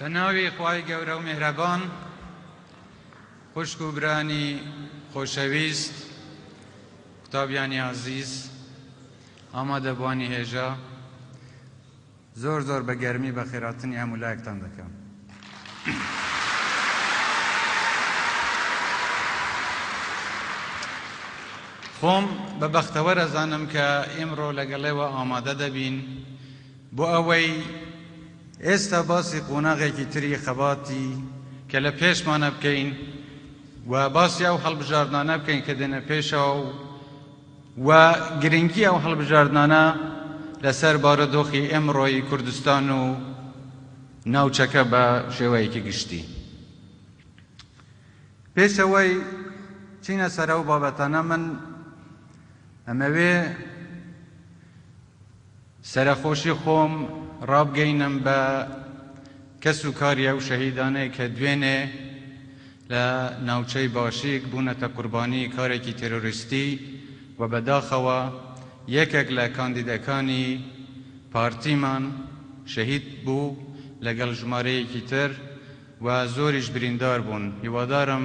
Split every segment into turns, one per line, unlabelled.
بە ناوی خوای گەورە و میهرەبان خوشک و برانی خۆشەویست قوتابیانی ئازیز ئامادەبوانی هێژا زۆر زۆر بە گەرمی بەخێراتنی هەموو لایەکتان دەکەم خۆم بە بەختەوەر ئەزانم کە ئیمڕۆ لەگەڵێوە ئامادە دەبین بۆ ئەوەی ئێستا باسی قۆناغێکی تری خەباتی کە لە پێشمانە بکەین و باسی ئەو هەڵبژاردنانە بکەین کە دێنە پێشەوە و و گرنگی ئەو هەڵبژاردنانە لەسەر بارودۆخی ئێمڕۆی کوردستان و ناوچەکە بە شێوەیەکی گشتی. پێش ئەوەی چینە سەر ئەو بابەتانە من ئەمەوێ سەرەخۆشی خۆم ڕابگەینم بە کەس و کاری ئەو شەهیدانەی کە دوێنێ لە ناوچەی باشیک بوونەتە قوربانی کارێکی تێرۆریستی و بەداخەوە یەکێک لە کاندیدەکانی پارتیمان شەهید بوو لەگەڵ ژمارەیەکی تر و زۆریش بریندار بوون هیوادارم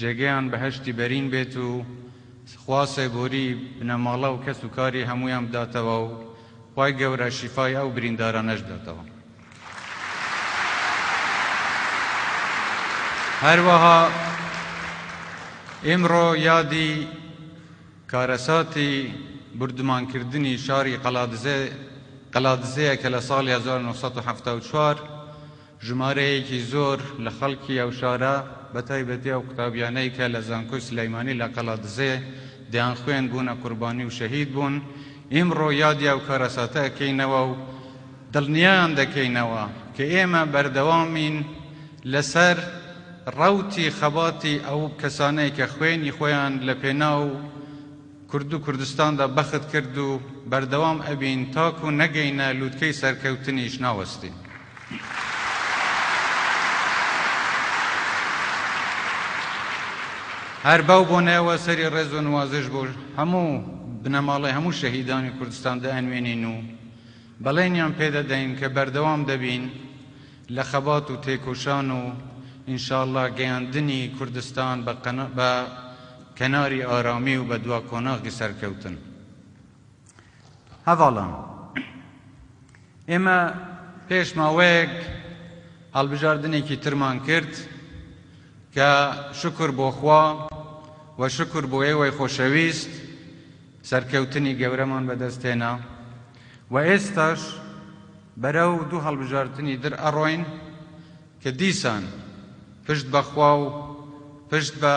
جێگەیان بەهەشتی بەرین بێت و خوا سێبۆری بنەماڵە و کەس و کاری هەموویان بداتەوە و خوای گەورە شیفای ئەو بریندارانەش بداتەوە. هەروەها ئیمڕۆ یادی کارەساتی بوردمانکردنی شاری قەڵادزێ قەلادزێیە کە لە ساڵی هەزار و نۆ سەد و حەفتا و چوار ژمارەیەکی زۆر لە خەڵکی ئەو شارە بە تایبەتی ئەو قوتابیانەی کە لە زانکۆی سلیمانی لە قەڵادزێ دەیانخوێند بوونە قوربانی و شەهید بوون، ئیمڕۆ یادی ئەو کارەساتە ئەکەینەوە و دڵنیایان دەکەینەوە کە ئێمە بەردەوامین لەسەر ڕەوتی خەباتی ئەو کەسانەی کە خوێنی خۆیان لە پێناو کورد و کوردستاندا بەخت کرد و بەردەوام ئەبین تاکو نەگەینە لوتکەی سەرکەوتنیش ناوەستین. هەر بەو بۆنەیەوە سەری ڕێز و نوازش بۆ هەموو بنەماڵەی هەموو شەهیدانی کوردستان دەنوێنین و بەڵێنیان پێدەدەین کە بەردەوام دەبین لە خەبات و تێکۆشان و ان شاء اللە گەیاندنی کوردستان بە کەناری ئارامی و بە دوا قۆناغی سەرکەوتن. هەڤاڵان، ئێمە پێش ماوەیەک هەڵبژاردنێکی ترمان کرد کە شکر بۆ خوا و شکر بۆ ئێوەی خۆشەویست سەرکەوتنی گەورەمان بەدەستهێنا و ئێستاش بەرەو دوو هەڵبژاردنی در ئەڕۆین کە دیسان پشت بەخوا و پشت بە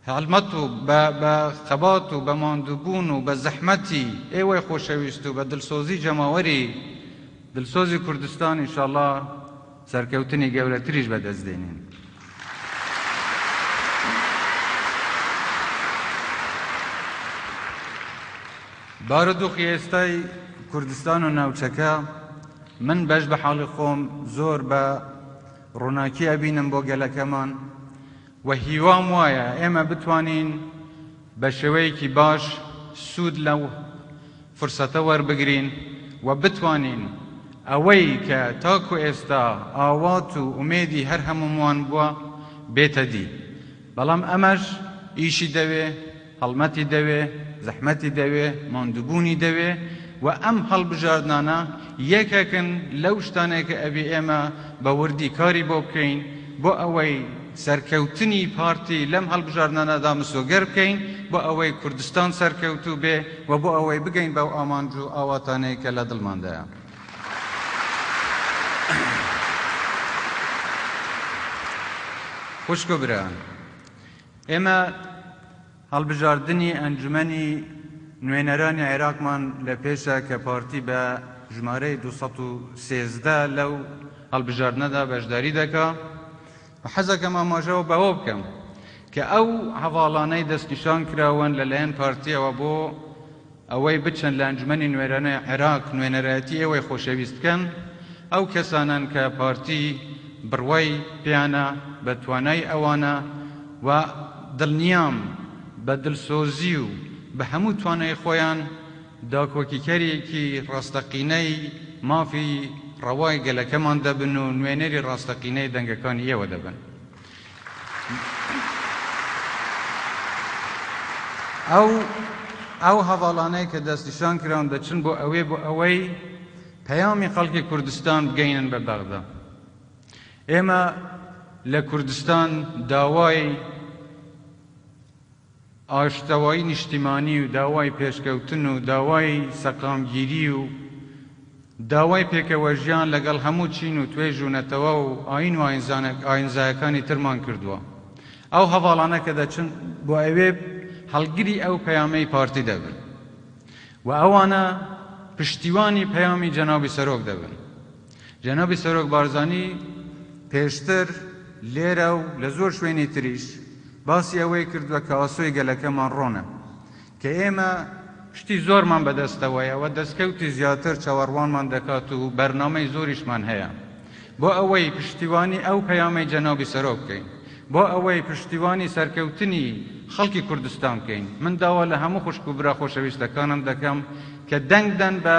هەڵمەت و بە خەبات و بە ماندووبوون و بە زەحمەتی ئێوەی خۆشەویست و بە دڵسۆزی جەماوەری دڵسۆزی کوردستان ئینشاڵا سەرکەوتنی گەورەتریش بەدەست دێنین. بارودۆخی ئێستای کوردستان و ناوچەکە من بەش بە حاڵی خۆم زۆر بە ڕووناکی ئەبینم بۆ گەلەکەمان و هیوام وایە ئێمە بتوانین بە شێوەیەکی باش سوود لەو فرسەتە وەربگرین و بتوانین ئەوەی کە تاکو ئێستا ئاوات و ئومێدی هەر هەمووموان بووە بێتە دی بەڵام ئەمەش ئیشی دەوێ هەڵمەتی دەوێ، زەحمەتی دەوێ، ماندووبوونی دەوێ و ئەم هەڵبژاردنانە یەکێکن لەو شتانەی کە ئەبێ ئێمە بە وردی کاری بۆ بکەین بۆ ئەوەی سەرکەوتنی پارتی لەم هەڵبژاردنانەدا مسۆگەر بکەین بۆ ئەوەی کوردستان سەرکەوتوو بێ و بۆ ئەوەی بگەین بەو ئامانج و ئاواتانەی کە لە دڵماندایە. خوشک و برایان، ئێمە هەڵبژاردنی ئەنجومەنی نوێنەرانی عێراقمان لە پێشە کە پارتی بە ژمارەی دوو سەد و سێزدە لەو هەڵبژاردنەدا بەشداری دەکا و حەزەکەم ئاماژەوە بەوە بکەم کە ئەو هەڤاڵانەی دەستنیشان کراون لەلایەن پارتیەوە بۆ ئەوەی بچن لە ئەنجومەنی نوێنەرانی عێراق نوێنەرایەتی ئێوەی خۆشەویست بکەن، ئەو کەسانەن کە پارتی بڕوای پێیانە بە توانای ئەوانە و دڵنیام بە دڵسۆزی و بە هەموو توانای خۆیان داکۆکیکەرێکی ڕاستەقینەی مافی ڕەوای گەلەکەمان دەبن و نوێنەری ڕاستەقینەی دەنگەکانی ئێوە دەبن. ئەو هەڤاڵانەی کە دەستنیشان کراون دەچن بۆ ئەوێ بۆ ئەوەی پەیامی خەڵکی کوردستان بگەینن بە بەغدا ئێمە لە کوردستان داوای ئاشتەوایی نیشتیمانی و داوای پێشکەوتن و داوای سەقامگیری و داوای پێکەوەژیان لەگەڵ هەموو چین و توێژ و نەتەوە و ئایین و ئایینزایەکانی ترمان کردووە. ئەو هەڤاڵانە کە دەچن بۆ ئەوێ هەڵگری ئەو پەیامەی پارتی دەبن و ئەوانە پشتیوانی پەیامی جەنابی سەرۆک دەبن. جەنابی سەرۆک بارزانی پێشتر لێرە و لە زۆر شوێنی تریش باسی ئەوەی کردووە کە ئاسۆی گەلەکەمان ڕۆنە، کە ئێمە، شتی زۆرمان بەدەستەوەیە و دەستکەوتی زیاتر چاوەڕوانمان دەکات و بەرنامەی زۆریشمان هەیە بۆ ئەوەی پشتیوانی ئەو پەیامەی جەنابی سەرۆک بکەین، بۆ ئەوەی پشتیوانی سەرکەوتنی خەڵکی کوردستان بکەین، من داوا لە هەموو خوشک و برا خۆشەویستەکانم دەکەم کە دەنگ بدەن بە.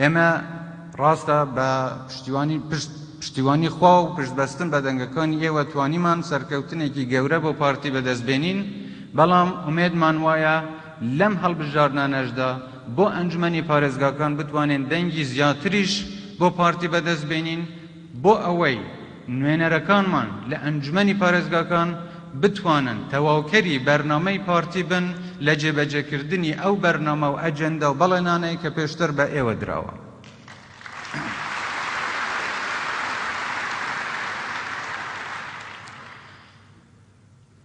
ئێمە ڕاستە بە پشتیوانی پشت پشتیوانی خوا و پشتبەستن بە دەنگەکانی ئێوە توانیمان سەرکەوتنێکی گەورە بۆ پارتی بەدەست بێنین، بەڵام ئومێدمان وایە لەم هەڵبژاردنانەشدا بۆ ئەنجومەنی پارێزگاکان بتوانین دەنگی زیاتریش بۆ پارتی بەدەست بێنین، بۆ ئەوەی نوێنەرەکانمان لە ئەنجومەنی پارێزگاکان بتوانن تەواوکەری بەرنامەی پارتی بن لە جێبەجێکردنی ئەو بەرنامە و ئەجێندا و بەڵێنانەی کە پێشتر بە ئێوە دراوە.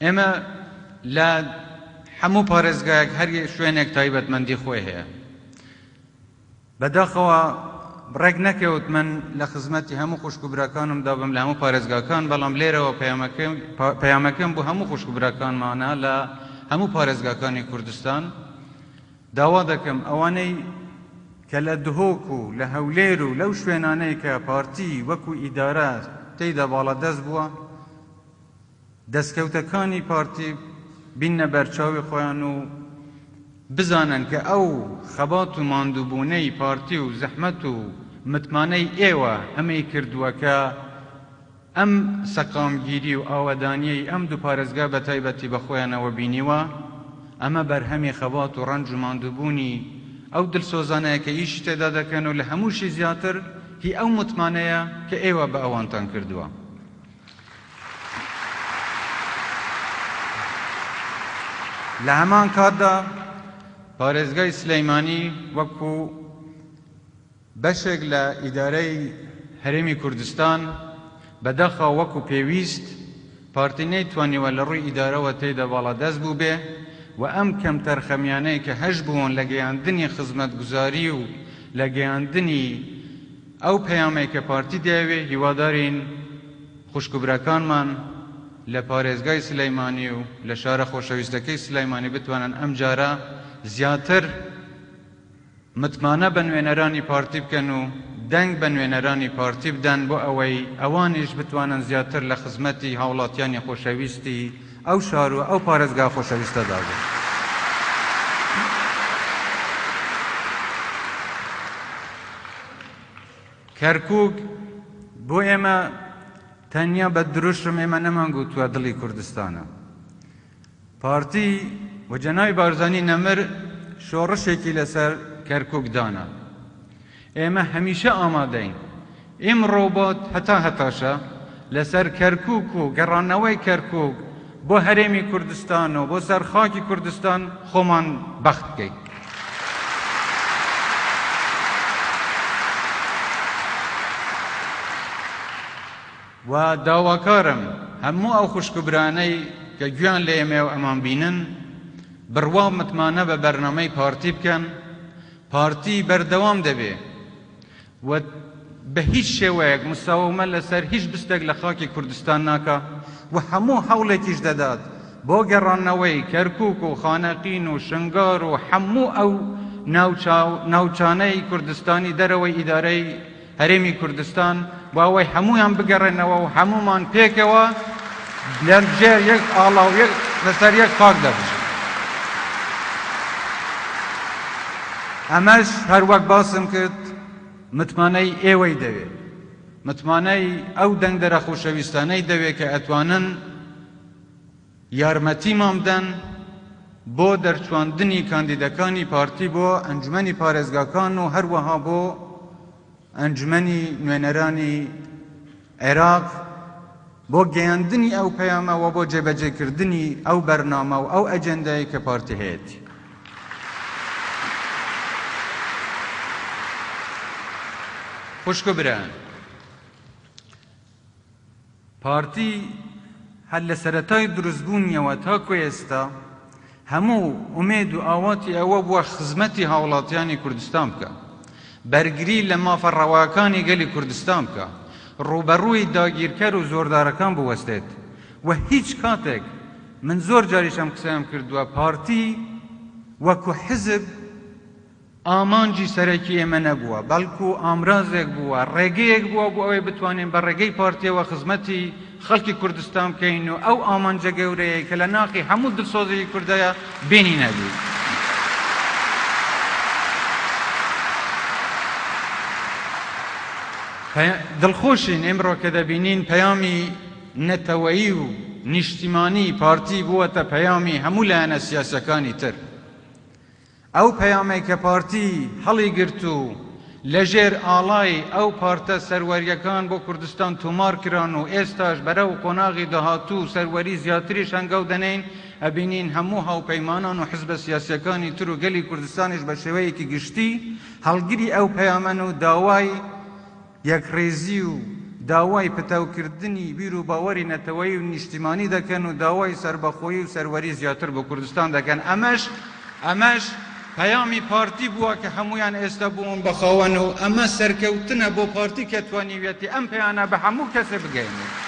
ئێمە لە هەموو پارێزگایەک هەر شوێنێک تایبەتمەندی خۆی هەیە، بە داخەوە ڕێک نەکەوت من لە خزمەتی هەموو خوشک و براکانم دابم لە هەموو پارێزگاکان بەڵام لێرەوە پەیامەکەم بۆ هەموو خوشک و براکانمانە لە هەموو پارێزگاکانی کوردستان داوا دەکەم ئەوانەی کە لە دهۆک و لە هەولێر و لەو شوێنانەی کە پارتی وەکو ئیدارە تێیدا باڵادەست بووە دەستکەوتەکانی پارتی بیننە بەرچاوی خۆیان و بزانن کە ئەو خەبات و ماندووبوونەی پارتی و زەحمەت و متمانەی ئێوە ئەمەی کردووە کە ئەم سەقامگیری و ئاوەدانیەی ئەم دوو پارێزگا بە تایبەتی بە خۆیانەوە بینیوە ئەمە بەرهەمی خەبات و ڕەنج و ماندووبوونی ئەو دلسۆزانەیە کە ئیشی تێدا دەکەن و لە هەمووشی زیاتر هی ئەو متمانەیە کە ئێوە بە ئەوانتان کردووە. لە هەمان کاتدا پارێزگای سلیمانی وەکو بەشێک لە ئیدارەی هەرێمی کوردستان بەداخەوە وەکو پێویست پارتی نەیتوانیوە لە ڕووی ئیدارەوە تێدا باڵادەست بووبێ و ئەم کەمتەرخەمیانەی کە هەشبوون لە گەیاندنی خزمەتگوزاری و لە گەیاندنی ئەو پەیامەی کە پارتی دەیەوێ هیوادارین خوشک و براکانمان لە پارێزگای سلیمانی و لە شارە خۆشەویستەکەی سلیمانی بتوانن ئەمجارە زیاتر متمانە بە نوێنەرانی پارتی بکەن و دەنگ بە نوێنەرانی پارتی بدەن بۆ ئەوەی ئەوانیش بتوانن زیاتر لە خزمەتی هاوڵاتیانی خۆشەویستی ئەو شار و ئەو پارێزگا خۆشەویستەدا بوو. کەرکووک بۆ ئێمە تەنیا بە دروشم ئێمە نەمانگوتووە دڵی کوردستانە. پارتی و جەنابی بارزانی نەمر شۆڕشێکی لەسەر کەرکووک دانا. ئێمە هەمیشە ئامادەین. ئیمڕۆ بۆ هەتا هەتاشە لەسەر کەرکووک و گەڕانەوەی کەرکووک بۆ هەرێمی کوردستان و بۆ سەر خاکی کوردستان خۆمان بەخت بکەین. و داواکارم هەموو ئەو خوشک و برانەی کە گوێیان لە ئێمەیە و ئەمان بینن، بڕوا و متمانە بە بەرنامەی پارتی بکەن پارتی بەردەوام دەبێ و بە هیچ شێوەیەک مساومە لە سەر هیچ بستێک لە خاکی کوردستان ناکا و هەموو هەوڵێکیش دەدات بۆ گەڕانەوەی کەرکووک و خانەقین و شنگار و هەموو ئەو ناوچانەی کوردستانی دەرەوەی ئیدارەی هەرێمی کوردستان بۆ ئەوەی هەموویان بگەڕێنەوە و هەموومان پێکەوە لە ژێر یەک ئاڵا و لەسەر یەک خاک دابژین. ئەمەش هەر وەک باسم کرد متمانەی ئێوەی دەوێت، متمانەی ئەو دەنگدەرە خۆشەویستانەی دەوێت کە ئەتوانن، یارمەتیمان بدەن بۆ دەرچواندنی کاندیدەکانی پارتی بۆ ئەنجومەنی پارێزگاکان و هەروەها بۆ ئەنجومەنی نوێنەرانی عێراق بۆ گەیاندنی ئەو پەیامە و بۆ جێبەجێکردنی ئەو بەرنامە و ئەو ئەجێندایەی کە پارتی هەیەتی. خوشک و برایان، پارتی هەر لە سەرەتای دروستبوونیەوە تاکو ئێستا هەموو ئومێد و ئاواتی ئەوە بووە خزمەتی هاوڵاتیانی کوردستان بکا، بەرگری لە مافە ڕەواکانی گەلی کوردستان بکا، ڕووبەڕووی داگیرکەر و زۆردارەکان بوەستێت و هیچ کاتێک، من زۆر جاریش ئەم قسەیەم کردووە، پارتی وەکو حزب، ئامانجی سەرەکی ئێمە نەبووە، بەڵکو ئامرازێک بووە، ڕێگەیەک بووە بۆ ئەوەی بتوانین بە ڕێگەی پارتییەوە خزمەتی خەڵکی کوردستان بکەین و ئەو ئامانجە گەورەیەی کە لە ناخی هەموو دڵسۆزێکی کوردایە بێنینە دی. دڵخۆشین ئیمڕۆ کە دەبینین پەیامی نەتەوەیی و نیشتیمانی پارتی بووەتە پەیامی هەموو لایەنە سیاسەکانی تر. ئەو پەیامەی کە پارتی هەڵیگرت و لەژێر ئاڵای ئەو پارتە سەروەرییەکان بۆ کوردستان تۆمار کران و ئێستاش بەرەو قۆناغی داهاتوو و سەروەری زیاتریش هەنگاو دەنێین، ئەبینین هەموو هاوپەیمانان و حزبە سیاسییەکانی تر و گەلی کوردستانیش بە شێوەیەکی گشتی هەڵگری ئەو پەیامەن و داوای یەکڕیزی و داوای پتەوکردنی بیروباوەری نەتەوەیی و نیشتیمانی دەکەن و داوای سەربەخۆیی و سەروەری زیاتر بۆ کوردستان دەکەن، ئەمەش ئەمەش پەیامی پارتی بووە کە هەموویان ئێستا بوون بە خاوەن و ئەمە سەرکەوتنە بۆ پارتی کە توانیویەتی ئەم پەیانە بە هەموو کەسێ بگەیەنێت.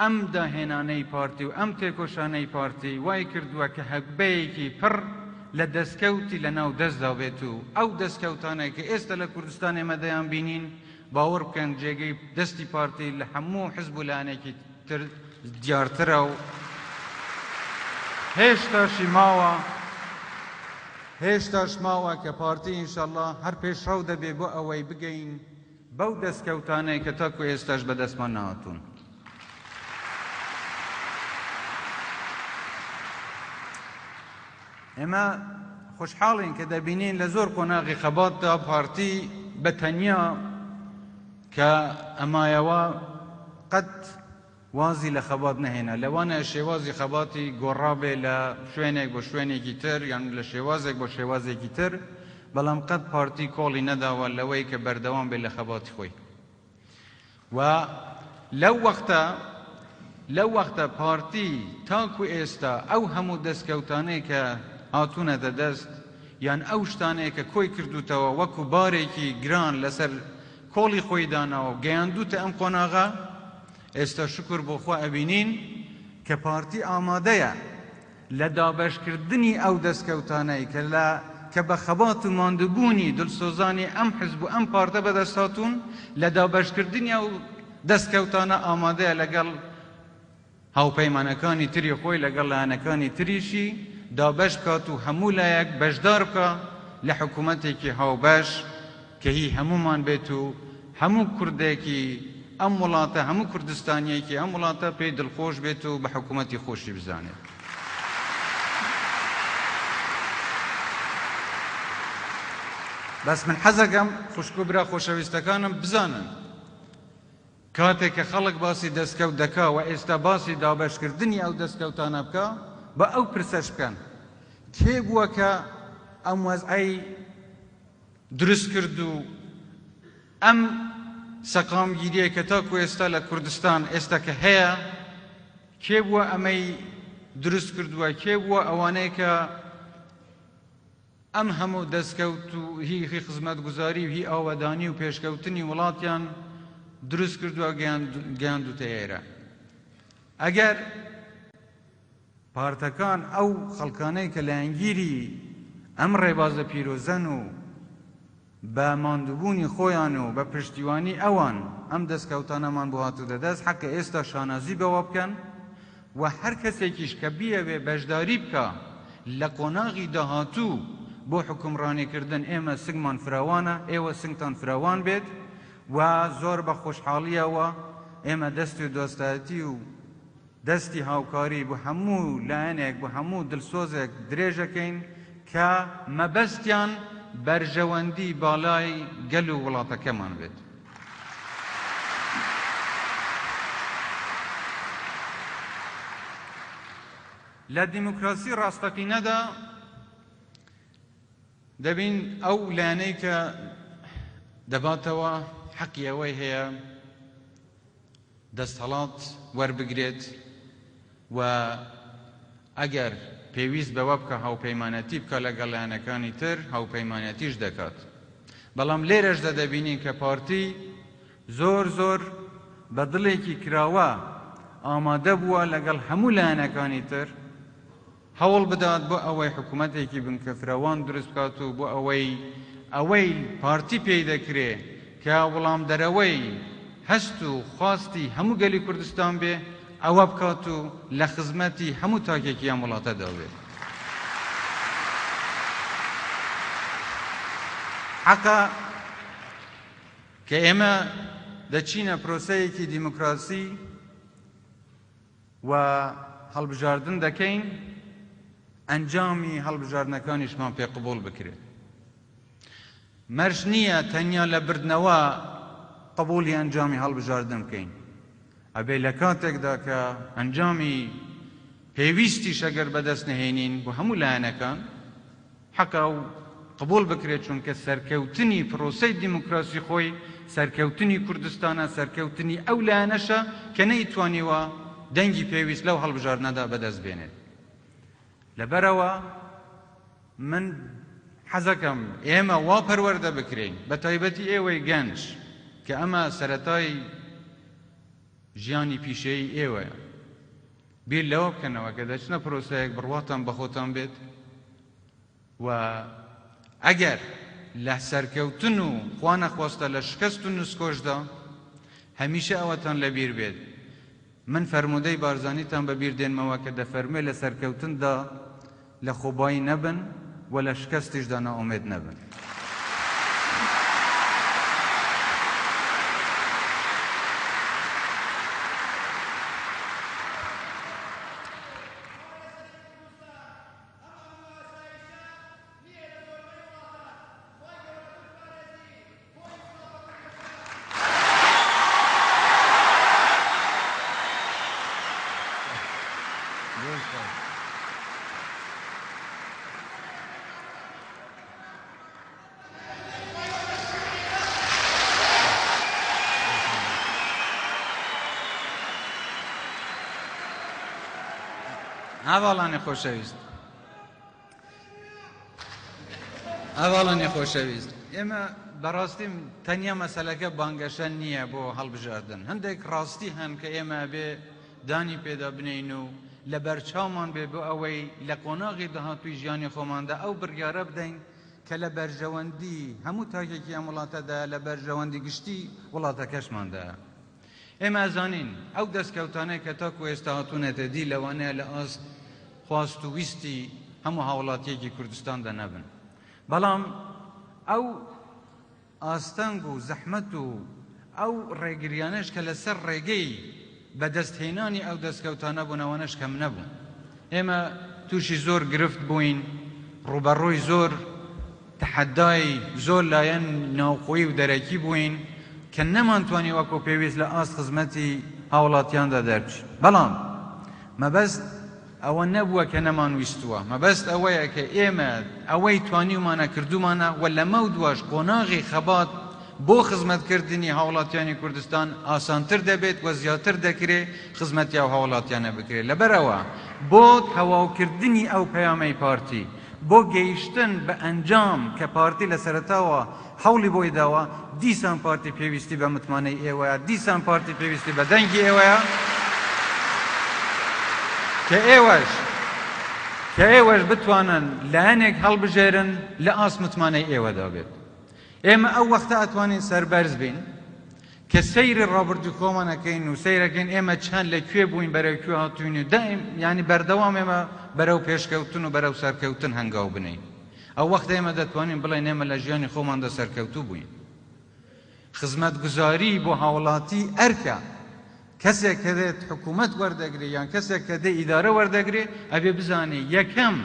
ئەم داهێنانەی پارتی و ئەم تێکۆشانەی پارتی وای کردووە کە هەگبەیەکی پڕ لە دەستکەوتی لە ناو دەستدا بێت و ئەو دەستکەوتانەی کە ئێستا لە کوردستان ئێمە دەیانبینین باوەڕ بکەن جێگەی دەستی پارتی لە هەموو حزب و لایەنێکی تر دیارترە و هێشتاشی ماوە هێشتاش ماوە کە پارتی ئینشەڵڵا هەر پێشڕەو دەبێ بۆ ئەوەی بگەین بەو دەستکەوتانەی کە تاکو ئێستاش بەدەستمان نەهاتوون. ئێمە خۆشحاڵین کە دەبینین لە زۆر قۆناغی خەباتدا پارتی بە تەنیا کە ئەمایەوە قەت وازی لە خەبات نەهێنا، لەوانەیە شێوازی خەباتی گۆڕابێ لە شوێنێک بۆ شوێنێکی تر یان لە شێوازێک بۆ شێوازێکی تر، بەڵام قەت پارتی کۆڵی نەداوە لەوەی کە بەردەوام بێ لە خەباتی خۆی و لەو وەختە لەو وەختە پارتی تاکو ئێستا ئەو هەموو دەستکەوتانەی کە هاتوونەتە دەست یان ئەو شتانەیە کە کۆی کردووتەوە وەکو بارێکی گران لەسەر کۆڵی خۆی داناوە و گەیاندووتە ئەم قۆناغە، ئێستا شوکور بۆ خوا ئەبینین کە پارتی ئامادەیە لە دابەشکردنی ئەو دەستکەوتانەی کە لە کە بە خەبات و ماندووبوونی دلسۆزانی ئەم حزب و ئەم پارتە بەدەست هاتوون، لە دابەشکردنی ئەو دەستکەوتانە ئامادەیە لەگەڵ هاوپەیمانەکانی تری خۆی لەگەڵ لایەنەکانی تریشی دابەش بکات و هەموو لایەک بەشدار بکا لە حکوومەتێکی هاوبەش کە هی هەموومان بێت و هەموو کوردێکی ئەم وڵاتە، هەموو کوردستانییەکی ئەم وڵاتە پێی دڵخۆش بێت و بە حکوومەتی خۆشی بزانێت. بەس من حەز ئەکەم خوشک و برا خۆشەویستەکانم بزانن، کاتێک کە خەڵک باسی دەستکەوت دەکا و ئێستا باسی دابەشکردنی ئەو دەستکەوتانە بکا، با ئەو پرسەش بکەن، کێ بووە کە ئەم وەزعەی دروست کرد و ئەم سەقامگیرییەی کە تاکوو ئێستا لە کوردستان ئێستا کە هەیە، کێ بووە ئەمەی دروست کردووە، کێ بووە ئەوانەی کە ئەم هەموو دەستکەوت و هی هی خزمەتگوزاری و هی ئاوەدانی و پێشکەوتنی وڵاتیان دروست کردوە گەیاندوتە ئێرە ئەگەر پارتەکان ئەو خەڵکانەی کە لایەنگیری ئەم ڕێبازە پیرۆزەن و بە ماندووبوونی خۆیان و بە پشتیوانی ئەوان ئەم دەستکەوتانەمان بۆ هاتووتە دەست، حەقە ئێستا شانازی بەوە بکەن و هەر کەسێکیش کە بیەوێ بەشداری بکا لە قۆناغی داهاتوو بۆ حوکمڕانیکردن، ئێمە سنگمان فراوانە، ئێوە سنگتان فراوان بێت و زۆر بە خۆشحاڵییەوە ئێمە دەست و دۆستایەتی و. دەستی هاوکاری بۆ هەموو لایەنێک، بۆ هەموو دڵسۆزێک درێژەکەین کە. مەبەستیان بەرژەوەندی باڵای گەل و وڵاتەکەمان بێت. لە دیموکراسی ڕاستەقینەدا دەبین ئەو لایەنەی کە دەباتەوە حەقی ئەوەی هەیە دەستهەڵات وەربگرێت و ئەگەر پێویست بەوە بکا هاوپەیمانەتی بکا لەگەڵ لایەنەکانی تر هاوپەیمانەتیش دەکات بەڵام لێرەشدا دەبینین کە پارتی زۆر زۆر بە دڵێکی کراوە ئامادە بووە لەگەڵ هەموو لایەنەکانی تر هەوڵ بدات بۆ ئەوەی حکومەتێکی بنکەفراوان دروست بکات و بۆ ئەوەی ئەوەی پارتی پێی دەکرێ کە وڵامدەرەوەی هەست و خواستی هەموو گەلی کوردستان بێ ئەوە بکات و لە خزمەتی هەموو تاکێکی ئەم وڵاتەدا بێ. حەقە کە ئێمە دەچینە پرۆسەیەکی دیموکراسی، و هەڵبژاردن دەکەین ئەنجامی هەڵبژاردنەکانیشمان پێ قبوڵ بکرێت مەرج نییە تەنیا لە بردنەوە قبوڵی ئەنجامی هەڵبژاردن بکەین ئەبێ لە کاتێکدا کە ئەنجامی پێویستیشەگەر بەدەست نهێنین بۆ هەموو لایەنەکان حەقە ئەو قبوڵ بکرێت چونکە سەرکەوتنی پرۆسەی دیموکراسی خۆی سەرکەوتنی کوردستانە، سەرکەوتنی ئەو لایەنەشە کە نەیتوانیوە دەنگی پێویست لەو هەڵبژاردنەدا بەدەست بێنێت. لەبەرئەوە من حەزەکەم ئێمە وا پەروەردە بکرێین بەتایبەتی ئێوەی گەنج کە ئەمە سەرەتای ژیانی پیشەیی ئێوەیە، بیر لەوە بکەنەوە کە دەچنە پرۆسەیەک بڕواتان بە خۆتان بێت و ئەگەر لە سەرکەوتن و خوا نەخواستە لە شکست و نسکۆشدا هەمیشە ئەوەتان لەبیر بێت من فەرموودەی بارزانیتان بەبیر دێنمەوە کە دەفەرموێ لە سەرکەوتندا لە خۆبایی نەبن و لە شکەستیشدا نائومێد نەبن. هاوڵانی خۆشەویست، هەڤاڵانی خۆشەویست، ئێمە بەڕاستی تەنیا مەسەلەکە بانگەشە نییە بۆ هەڵبژاردن، هەندێک ڕاستی هەن کە ئێمە ئەبێ دانی پێدا بنێین و لەبەرچاومان بێ بۆ ئەوەی لە قۆناغی داهاتووی ژیانی خۆماندا ئەو بڕیارە بدەین کە لە بەرژەوەندی هەموو تاکێکی ئەم وڵاتەدایە، لە بەرژەوەندی گشتی وڵاتەکەشماندایە. ئێمە ئەزانین ئەو دەستکەوتانەی کە تاکو ئێستا هاتوونەتە دی لەوانەیە لە ئاست خواست و ویستی هەموو هاوڵاتیەکی کوردستاندا نەبن بەڵام ئەو ئاستەنگ و زەحمەت و ئەو ڕێگریانەش کە لەسەر ڕێگەی بەدەستهێنانی ئەو دەستکەوتانە بوون ئەوانەش کەم نەبوون ئێمە تووشی زۆر گرفت بووین ڕوبەڕووی زۆر تەحەدای زۆر لایەن ناوخۆیی و دەرەکی بووین کە نەمانتوانی وەکو پێویست لە ئاست خزمەتی هاوڵاتیاندا دەربچین، بەڵام مەبەست ئەوە نەبووە کە نەمانویستووە، مەبەست ئەوەیە کە ئێمە ئەوەی توانیومانە کردوومانە و لەمەودواش قۆناغی خەبات بۆ خزمەتکردنی هاوڵاتیانی کوردستان ئاسانتر دەبێت و زیاتر دەکرێ خزمەتی ئەو هاوڵاتیانە بکرێت، لەبەرئەوە بۆ تەواوکردنی ئەو پەیامەی پارتی. بۆ گەیشتن بە ئەنجام کە پارتی لە سەرەتاوە هەوڵی بۆی داوە، دیسان پارتی پێویستی بە متمانەی ئێوەیە، دیسان پارتی پێویستی بە دەنگی ئێوەیە، کە ئێوەش کە ئێوەش بتوانن لایەنێک هەڵبژێرن لە ئاست متمانەی ئێوەدا بێت. ئێمە ئەو وەختە ئەتوانین سەربەرز بین، کە سەیری ڕابردووی خۆمان ئەکەین و سەیر ئەکەین ئێمە چەند لە کوێ بووین بەرەو کوێ هاتووین و دایم یانی بەردەوام ئێمە بەرەو پێشکەوتن و بەرەو سەرکەوتن هەنگاو بنێین ئەو وەختە ئێمە دەتوانین بڵێین ئێمە لە ژیانی خۆماندا سەرکەوتوو بووین خزمەتگوزاری بۆ هاوڵاتی ئەرکە کەسێک کە دێت حکوومەت وەردەگرێ یان کەسێک کە دێ ئیدارە وەردەگرێ ئەبێ بزانێ یەکەم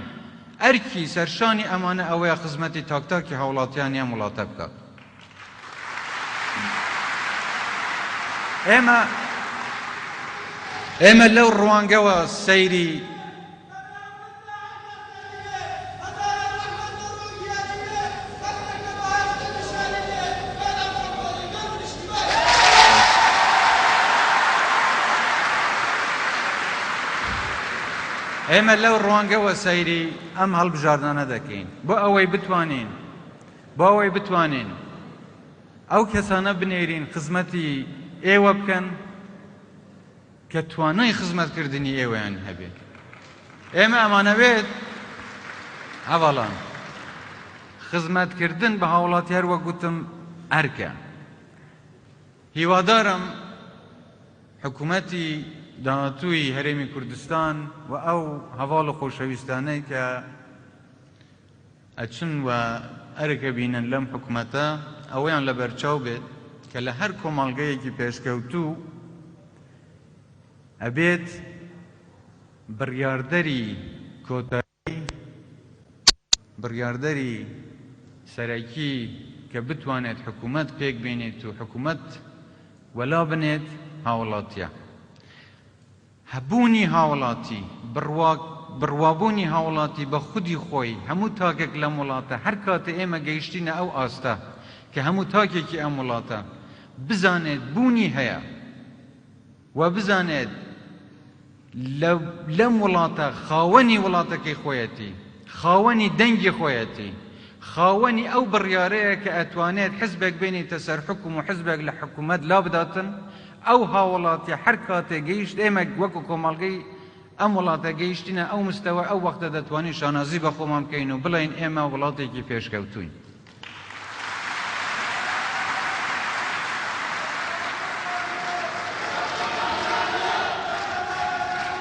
ئەرکی سەرشانی ئەمانە ئەوەیە خزمەتی تاک تاکی هاوڵاتیانی ئەم وڵاتە بکات. ئێمە ئێمە لەو ڕوانگەوە سەیری ئێمە لەو ڕوانگەوە سەیری ئەم هەڵبژاردانە دەکەین بۆ ئەوەی بتوانین بۆ ئەوەی بتوانین ئەو کەسانە بنێرین خزمەتی ئێوە بکەن کە توانای خزمەتکردنی ئێوەیان هەبێت. ئێمە ئەمانەوێت هەڤاڵان. خزمەتکردن بە هاوڵاتیار وەک گوتم ئەرکە. هیوادارم حکومەتی داهاتووی هەرێمی کوردستان و ئەو هەڤاڵ و خۆشەویستانەی کە، ئەچن و ئەرک ئەبینن لەم حکومەتە ئەوەیان لەبەرچاو بێت کە لە هەر کۆمەڵگەیەکی پێشکەوتوو ئەبێت بڕیاردەری کۆتایی بڕیاردەری سەرەکی کە بتوانێت حکومەت پێک بێنێت و حکومەت وەلا بنێت هاوڵاتیە هەبوونی هاوڵاتی، بڕوا بڕوابوونی هاوڵاتی بە خودی خۆی، هەموو تاکێک لەم وڵاتە، هەر کاتێ ئێمە گەیشتینە ئەو ئاستە کە هەموو تاکێکی ئەم وڵاتە بزانێت بوونی هەیە و بزانێت لە لەم وڵاتە خاوەنی وڵاتەکەی خۆیەتی، خاوەنی دەنگی خۆیەتی، خاوەنی ئەو بڕیارەیە کە ئەتوانێت حزبێک بێنیتە سەر حوکم و حزبێک لە حکوومەت لابداتن، ئەو هاوڵاتیە هەر کاتێ گەیشت ئێمە وەکو کۆمەڵگەی ئەم وڵاتە گەیشتینە ئەو مستەوە ئەو وەختە دەتوانین شانازی بە خۆمان بکەین و بڵێین ئێمە وڵاتێکی پێشکەوتووین.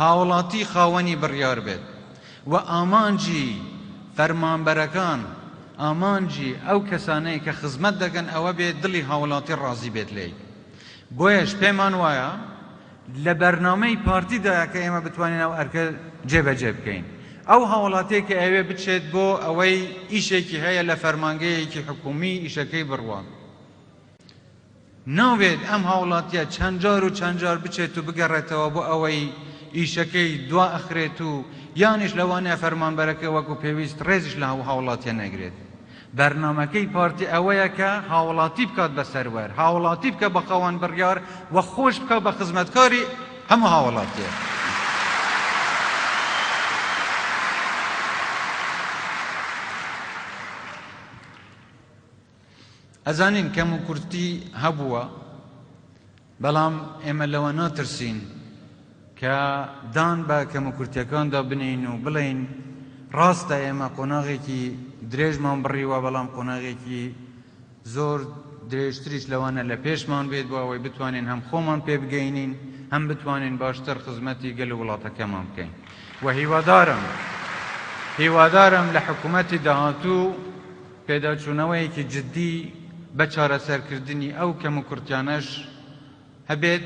هاوڵاتی خاوەنی بڕیار بێت و ئامانجی فەرمانبەرەکان، ئامانجی ئەو کەسانەی کە خزمەت دەکەن ئەوە بێت دڵی هاوڵاتی ڕازی بێت لێی. بۆیەش پێمان وایە لە بەرنامەی پارتی دایە کە ئێمە بتوانین ئەو ئەرکە جێبەجێ بکەین. ئەو هاوڵاتیەک کە ئەیەوێت بچێت بۆ ئەوەی ئیشێکی هەیە لە فەرمانگەیەکی حکوومی ئیشەکەی بڕوات. نابێت ئەم هاوڵاتیە چەند جار و چەند جار بچێت و بگەڕێتەوە بۆ ئەوەی ئیشەکەی دوا ئەخرێت و یانیش لەوانەیە فەرمانبەرەکە وەکو پێویست ڕێزیش لە ئەو هاوڵاتیە نەگرێت. بەرنامەکەی پارتی ئەوەیە کە هاوڵاتی بکات بە سەروەر، هاوڵاتی بکە بە خاوەن بڕیار و خۆش بکا بە خزمەتکاری هەموو هاوڵاتیەک. ئەزانین کەم و کورتی هەبووە بەڵام ئێمە لەوە ناترسین کە دان بە کەم و کورتەکاندا بنین و بڵین ڕاستە ئێمە قۆناغێکی درێژمان بڕیوە بەڵام قۆناغێکی زۆر درێژتریش لەوانە لە پێشمان بێت بۆ ئەوەی بتوانین هەم خۆمان پێ بگەینین هەم بتوانین باشتر خزمەتی گەل و وڵاتەکەمان بکەین و هیوادارم هیوادارم لە حکوومەتی داهاتوو پێداچوونەوەیەکی جددی بە چارەسەرکردنی ئەو کەموکورتیانەش هەبێت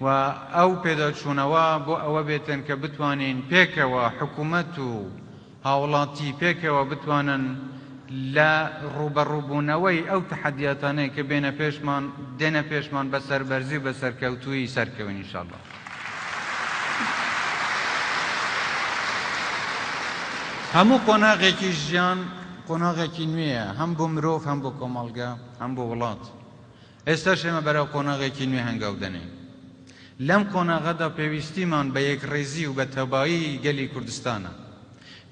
و ئەو پێداچوونەوە بۆ ئەوە بێتن کە بتوانین پێکەوە حکومەت و هاوڵاتی پێکەوە بتوانن لە ڕووبەڕووبوونەوەی ئەو تەحەدیاتانەی کە بێنە پێشمان دێنە پێشمان بە سەربەرزی و بە سەرکەوتوویی سەرکەوین ان شاءاللە. هەموو قۆناغێکی ژیان. قۆناغێکی نوێیە هەم بۆ مرۆڤ هەم بۆ کۆمەڵگە هەم بۆ وڵات، ئێستاش ئێمە بەرەو قۆناغێکی نوێ هەنگاو دەنێین. لەم قۆناغەدا پێویستیمان بە یەکڕیزی و بە تەبایی گەلی کوردستانە.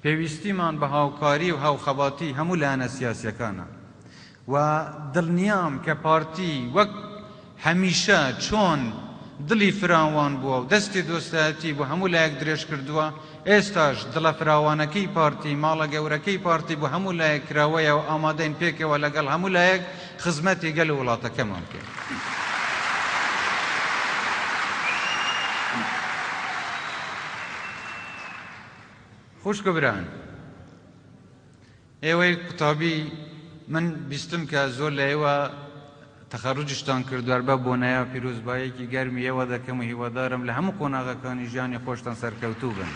پێویستیمان بە هاوکاری و هاوخەباتی هەموو لایەنە سیاسییەکانە. و دڵنیام کە پارتی وەک هەمیشە چۆن دڵی فراوان بووە و دەستی دۆستایەتی بۆ هەموو لایەک درێژ کردووە، ئێستاش دڵە فراوانەکەی پارتی، ماڵە گەورەکەی پارتی بۆ هەموو لایەک کراوەیە و ئامادەین پێکەوە لەگەڵ هەموو لایەک خزمەتی گەل و وڵاتەکەمان بکەین. خوشک و بران، ئێوەی قوتابی من بیستم کە زۆر لە ئێوە تەخەروجشتان کردوە هەر بەو بۆنەیە پیرۆزبایەکی گەرمی ئێوە دەکەم و هیوادارم لە هەموو قۆناغەکانی ژیانی خۆشتان سەرکەوتوو بن.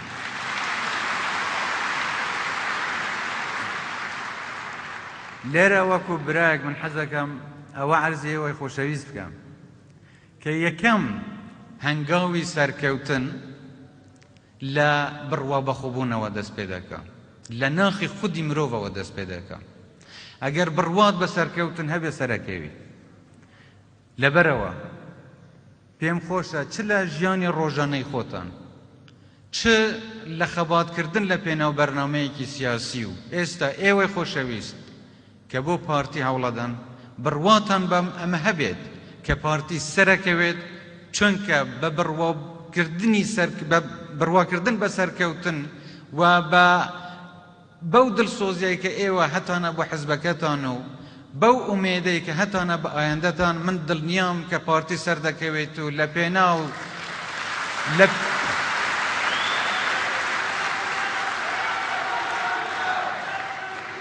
لێرە وەکو برایەک من حەزەکەم ئەوە عەرزی ئێوەی خۆشەویست بکەم کە یەکەم هەنگاوی سەرکەوتن لە بڕوا بەخۆبوونەوە دەست پێ دەکا. لە ناخی خودی مرۆڤەوە دەست پێ دەکا. ئەگەر بڕوات بە سەرکەوتن هەبێ سەرەکەوی. لەبەرئەوە پێم خۆشە چ لە ژیانی ڕۆژانەی خۆتان چ لە خەباتکردن لە پێناو بەرنامەیەکی سیاسی و ئێستا ئێوەی خۆشەویست کە بۆ پارتی هەوڵەدەن بڕواتان بە ئەمە هەبێت کە پارتی سەرەکەوێت چۆنکە بە بڕواکردن بە سەرکەوتن و بە بەو دڵسۆزیەی کە ئێوە هەتانە بۆ حزبەکەتان و بەو ئومێدەی کە هەتانە بە ئایندەتان من دڵنیام کە پارتی سەردەکەوێت و لە پێناو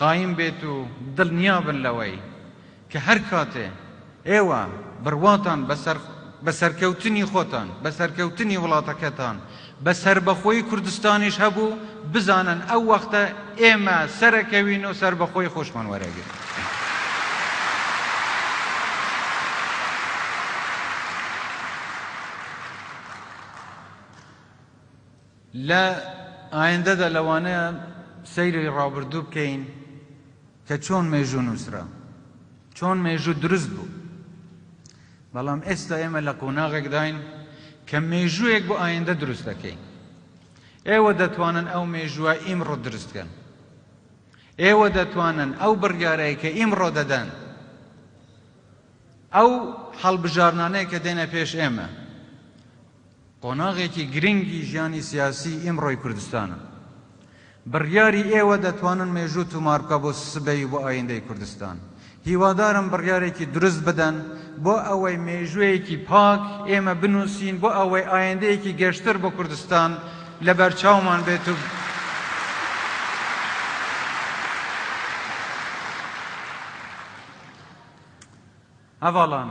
قایم بێت و دڵنیا بن لەوەی کە هەر کاتێ ئێوە بڕواتان بە سەرکەوتنی خۆتان، بە سەرکەوتنی وڵاتەکەتان، بە سەربەخۆیی کوردستانیش هەبوو، بزانن ئەو وەختە ئێمە سەرەکەوین و سەربەخۆیی خۆشمان وەرئەگرین. لە ئایندەدا لەوانەیە سەیری ڕابردوو بکەین کە چۆن مێژوو نووسرا، چۆن مێژوو دروست بوو، بەڵام ئێستا ئێمە لە قۆناغێکداین کە مێژوویەک بۆ ئایندە دروست دەکەین. ئێوە دەتوانن ئەو مێژووە ئیمڕۆ دروست بکەن. ئێوە دەتوانن ئەو بڕیارەی کە ئیمڕۆ دەدەن، ئەو هەڵبژاردنانەی کە دێنە پێش ئێمە، قۆناغێکی گرنگی ژیانی سیاسیی ئیمڕۆی کوردستانە. بڕیاری ئێوە دەتوانن مێژوو تومار بکا بۆ سبەی و بۆ ئایندەی کوردستان. هیوادارم بڕیارێکی دروست بدەن بۆ ئەوەی مێژوویەکی پاک ئێمە بنووسین بۆ ئەوەی ئایندەیەکی گەشتر بۆ کوردستان لە بەرچاومان بێت و ئەڤالان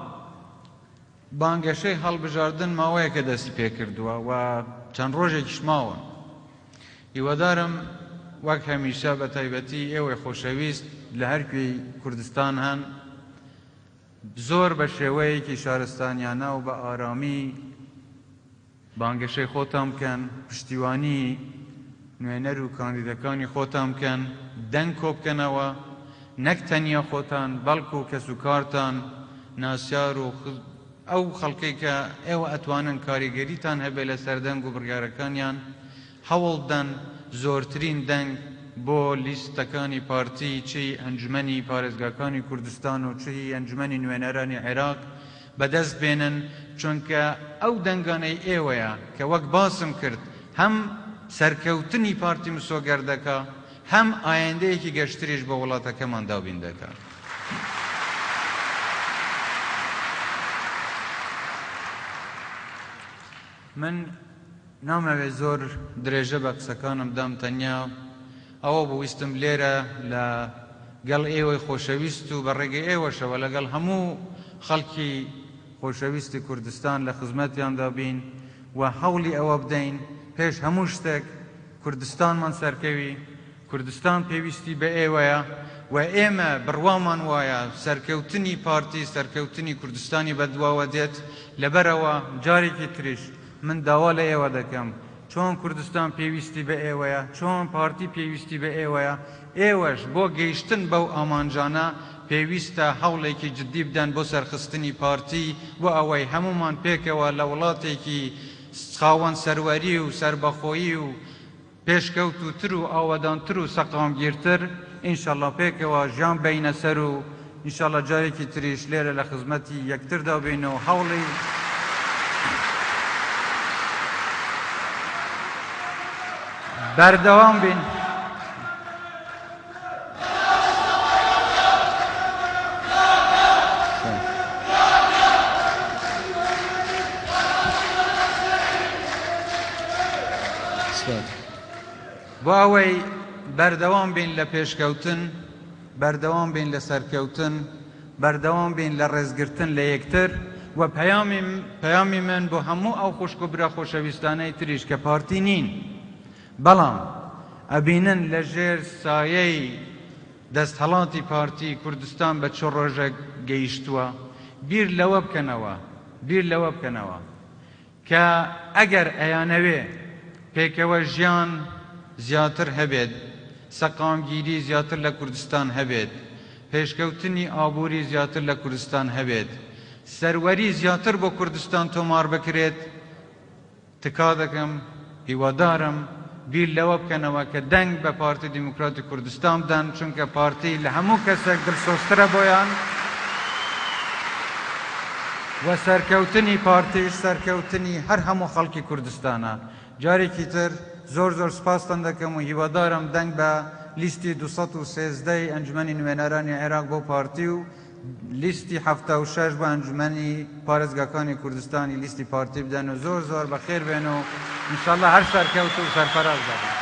بانگەشەی هەڵبژاردن ماوەیەکە دەستی پێکردووە و چەند ڕۆژێکیش ماون. هیوادارم وەک هەمیشە بە تایبەتی ئێوەی خۆشەویست لە هەر کوێی کوردستان هەن زۆر بە شێوەیەکی شارستانیانە و بە ئارامی بانگەشەی خۆتان بکەن، پشتیوانی نوێنەر و کاندیدەکانی خۆتان بکەن، دەنگ کۆبکەنەوە، نەک تەنیا خۆتان بەڵکو کەسوکارتان، ناسیار و ئەو خەڵکەی کە ئێوە ئەتوانن کاریگەریتان هەبێت لەسەر دەنگ و بڕیارەکانیان، هەوڵبدەن زۆرترین دەنگ بۆ لیستەکانی پارتی چ هی ئەنجومەنی پارێزگاکانی کوردستان و چ هی ئەنجومەنی نوێنەرانی عێراق بەدەست بێنن، چونکە ئەو دەنگانەی ئێوەیە کە وەک باسم کرد هەم سەرکەوتنی پارتی مسۆگەر دەکا، هەم ئایندەیەکی گەشتریش بۆ وڵاتەکەمان دابین دەکا. من نامەوێ زۆر درێژە بە قسەکانم بدەم، تەنیا. ئەوە بوو ویستم لێرە لە گەڵ ئێوەی خۆشەویست و بە ڕێگەی ئێوەشەوە لە گەڵ هەموو خەڵکی خۆشەویستی کوردستان لە خزمەتیاندا بین و هەوڵی ئەوە بدەین پێش هەموو شتێک کوردستانمان سەرکەوی کوردستان پێویستی بە ئێوەیە و ئێمە بڕوامان وایە سەرکەوتنی پارتی سەرکەوتنی کوردستانی بە دواوە دێت لەبەرئەوە جارێکی تریش من داوا لە ئێوە دەکەم، چۆن کوردستان پێویستی بە ئێوەیە، چۆن پارتی پێویستی بە ئێوەیە، ئێوەش بۆ گەیشتن بەو ئامانجانە پێویستە هەوڵێکی جددی بدەن بۆ سەرخستنی پارتی، بۆ ئەوەی هەموومان پێکەوە لە وڵاتێکی خاوەن سەروەری و سەربەخۆیی و پێشکەوتووتر و ئاوەدانتر و سەقامگیرتر ئینشەڵا پێکەوە ژان بەینە سەر و ئینشەڵا جارێکی تریش لێرە لە خزمەتی یەکتردا بین و هەوڵی بەردەوام بین. بۆ ئەوەی بەردەوام بین لە پێشکەوتن بەردەوام بین لە سەرکەوتن بەردەوام بین لە ڕێزگرتن لە یەکتر و پەیامی من بۆ هەموو ئەو خوشک و برا خۆشەویستانەی تریش کە پارتی نین بەڵام ئەبینن لە ژێر سایەی دەستهەڵاتی پارتی کوردستان بە چ ڕۆژێک گەیشتووە، بیر لەوە بکەنەوە، بیر لەوە بکەنەوە کە ئەگەر ئەیانەوێ پێکەوە ژیان زیاتر هەبێت، سەقامگیری زیاتر لە کوردستان هەبێت، پێشکەوتنی ئابووری زیاتر لە کوردستان هەبێت، سەروەری زیاتر بۆ کوردستان تۆمار بکرێت، تکا دەکەم، هیوادارم بیر لەوە بکەنەوە کە دەنگ بە پارتی دیموکراتی کوردستان بدەن، چونکە پارتی لە هەموو کەسێک دلسۆزترە بۆیان و سەرکەوتنی پارتیش سەرکەوتنی هەر هەموو خەڵکی کوردستانە. جارێکی تر زۆر زۆر سپاستان دەکەم و هیوادارم دەنگ بە لیستی دوو سەد و سێزدە ی ئەنجومەنی نوێنەرانی عێراق بۆ پارتی و لیستی حەفتا و شەش بۆ ئەنجومەنی پارێزگاکانی کوردستانی لیستی پارتی بدەن و زۆر زۆر بەخێر بێن و ان شاء اللە هەر سەرکەوتوو و سەرفەراز دەبن.